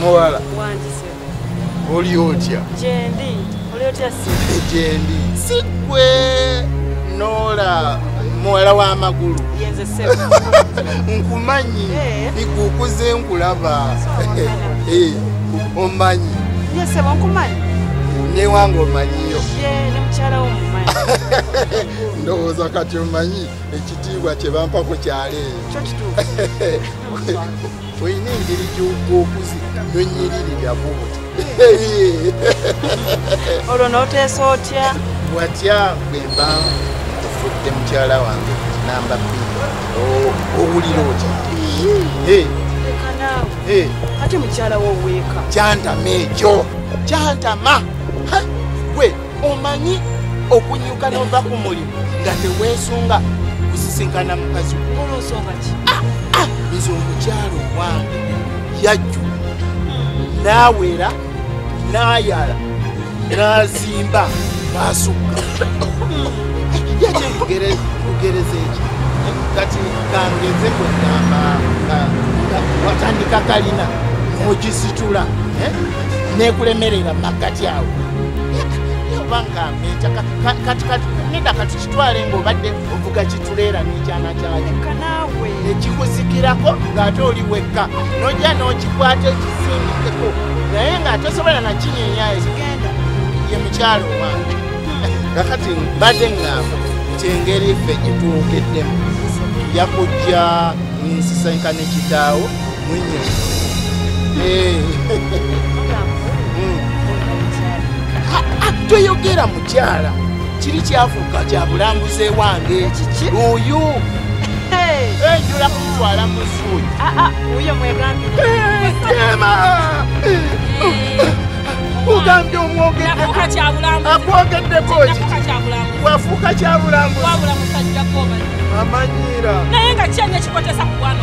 muwala oli otya gyendi oli otya gyendi sigwe nola muwala w'amagulu nkumanyi eh. ikukuze nkulaba eh, omanyi newange omanyiyo ndowooza kati omanyi ekitiibwa kyebampa ku kyalo eyo olina engeri gy'okuzi nonyiririra bubuti olwo n'oteesa otya watya bwe mba ofudde mukyala wange namba bbiri owulira otya ate mukyala wo weeka kyantama ekyo kyantama gwe omanyi okunyuka nova ku mulimu nga teweesunga kusisinkana mukazi ah, ah, nze omukyalo owange yajju hmm. naawera naayala naazimba naasukka hmm. yaki kugereza ekyo kati kangeze kwegamba watandika kalina ogisitula eh? nekulemerera maggati awo obanga meja kati kati neda kati kitwale ngaobadde ovuga kituleera nekyana kyayo ekikuzikirako ngaate oli wekka nojja nokikwata ekisindikeko naye nga tosobola nakinyenya ye mukyalo owange kakati mbadde ngamba kyengeri ffe gyetuwogeddemu yakujja nsisinkane kitaawo toyogera mukyala kiri kyafuuka kya bulambuzi ewange oyo enjula kumutwala musuuyi ogambye omwogeakwogedeko wafuuka kyabulambuzi amanyiira naye nga kyanya kikotesa kugwana